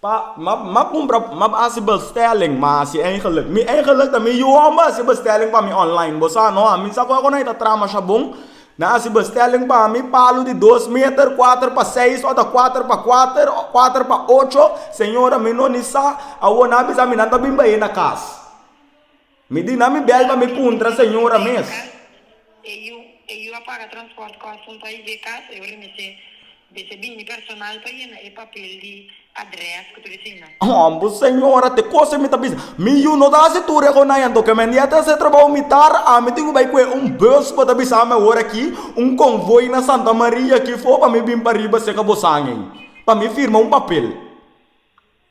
Pa ma ma cumpra ma haci bestelling ma haci eigenlijk mi eigenlijk ta mi yu homber haci bestelling pa mi online bo sa no a mi sa cu cu na ta traha masha bon na haci bestelling pa mi palu di dos meter cuater pa seis o ta cuater pa cuater o cuater pa ocho señora mi no ni sa awor nan a bisa mi nan ta bin bayé na cas. Mi dina mi bel pa mi puntra señora mes. E yu a paga transport custom pa i dje cas, e remete bes e bini personal pa yena e papel di adres cu ta bicina. Hombre señora te cose mi ta bisa, mi yu no ta haci tur e conanyan to kemen dia ta haci e trabao mitar, ami tin cu bay cu e un bus bo ta bisa ami awor aki, un convoy na Santa Maria aki for pa mi bin pa riba seca bosan ey pa mi firma un papel.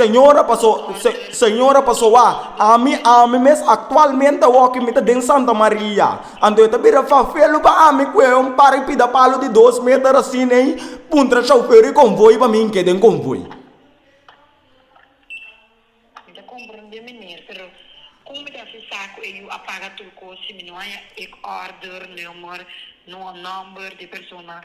Señora Señora Pasoa, ami, ami mes aktualmente awòkI mi ta den Santa Maria. Anto e ta bira fafelu pa ami ku e un par di pidapalu di dos meter asin ei, puntra shoufer di konvoi pa mi n'ke den konvoi. Mi ta komprondé meneer, pero kon mi ta hasi sa ku e yu a paga tur kos si mi no haya ek order, nummer, nòmber di e persona?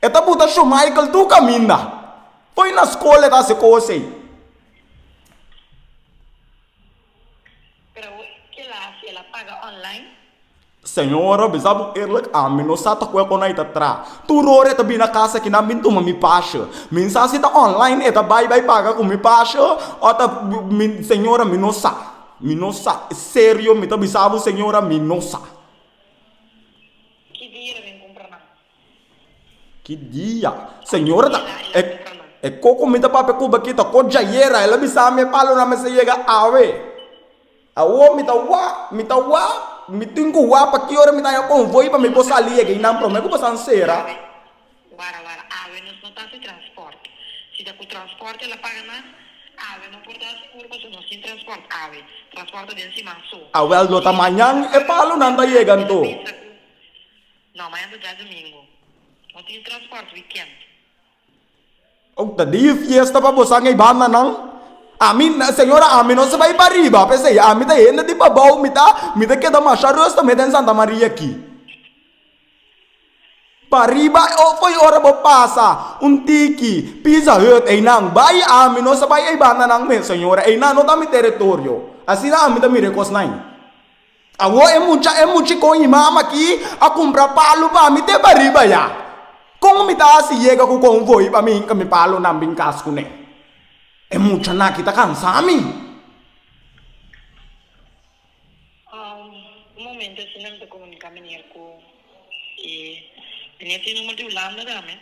E ta buta Shomaikel tur caminda. Fo'i na scola e ta haci cos'ey. Pero kel asi el a paga online? Señora, mi sa bo eerlijk, ami no sa ta cu e con ai ta tra. Tur ora e ta bini na casa aki nan bin tuma mi pasje. Mi sa si ta online e ta bai bai paga cu mi pasje o ta, mi, señora, mi no sa. Mi no sa. Serio mi ta bisa bo señora, mi no sa. Ki dia e ta bin cumpra nan? Ki dia, señora ta, e koko mi ta papia ku Baky ta kotch ayera, el a bisa mi e palo na mester yega awe. Awo mi ta wak, mi ta wak, mi tin ku wak pa ki ora mi ta haña konvoi pa mi por sali yega i nan promé ku bo sa ensera. Wara wara, awe nos no ta hasi transport. Si ta ku transport el a paga mas, awe no por ta hasi puru pasobra nos tin transport awe. Transport ta den siman so. Awe al dota mañan e palonan ta yega anto. No, mañan ta djadumingu. No tin transport wikènt. Ouk ta dia fiesta pa bosan ei banda nan. Ami, señora, ami no sa bai pa riba, p'esei ami ta hende di pabou, mi ta mi ta keda masha rustu mi den Santa Maria aki. Pa riba foi ora bo pasa un tiki Pizza Hut einan bai, ami no sa bai ei banda nan mes, señora, einan no ta mi teritorio. Asina ami ta mira e kosnan. Awor e mucha e muchi con i mama aki a cumpra palu pa mi te bariba ya. Con mi ta haci yega cu con voi pa mi hinca mi palunan bin cas cu ne? E mucha nan aki ta cansa mi. Un momento asina mi ta comunica menier cu. E mene tin number di Hulanda tambe.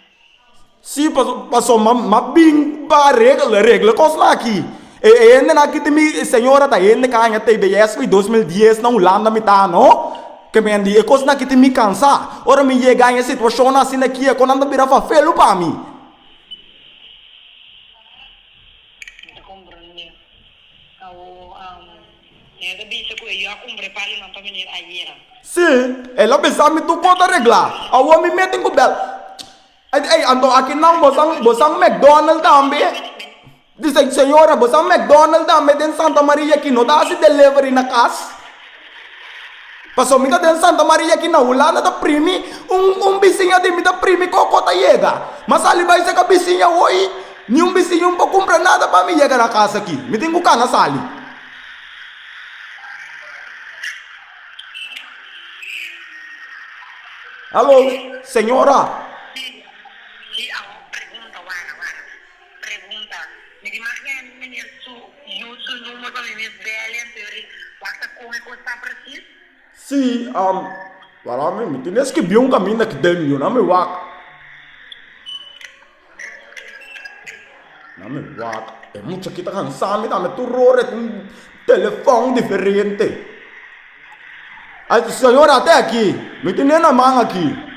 Sí paso ma bin pa regla regla cosnan aki. E hendenan aki tin mi señora ta hende caña tei de esa y dos mil dies na Hulanda mi ta no. Ke mi a di e cosnan aki tin mi cansa. Ora mi yega e situacionnan asina aki e conan ta bira fafelu pa mi. Mi ta comprende. Awo. Mi a ta bisa cu e yo a cumpra e palinan pa mi nir ayera. Si, el a bisa mi tur cos ta regla. Awor mi meten cu bel. Ey, ey, anto akinan bo san, bo san McDonald tambe? Di se, señora, bo san McDonald tambe den Santa Maria, ki no ta haci delivery na cas? Pasobra mi ta den Santa Maria aki na Hulanda ta primi un un bisiña di mi ta primi koko ta yega. M'a sali bai seka bisiña hoy, niun bisiña un por kumpra nada pa mi yega na kasa aki. Mi tin ku kana sali. Hallo, señora. Pregunta, Mi di mas hende na hel su yu su numero pa mi mes bel en teoria wak-sa kon e kos ta presis? Si, am, wala mi, mi tin e skibi un kaminda ki den yu na mi wak. Na mi wak e mucha ki ta kansa mi dame tur ora ku un telefon diferente. Ay, señora, te aki, mi tin e na man aki.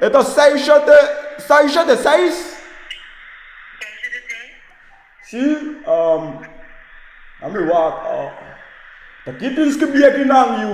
E ta seis shete seis shete seis. Seis shete seis. Si ami wak ta ki tin skibí aki nan yu.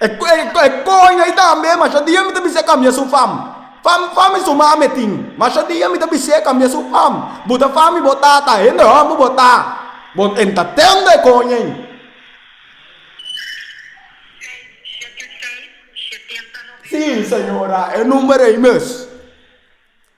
E koin ei tambe, masha dia mi ta bisa e kambia su fam. Fam, fam i su mame tin. Masha dia mi ta bis'é kambia su fam. Bo ta fam i bo tata, hende hòmber bo ta. Bo en ta tende e koin ei. Si, señora, e number ei mes.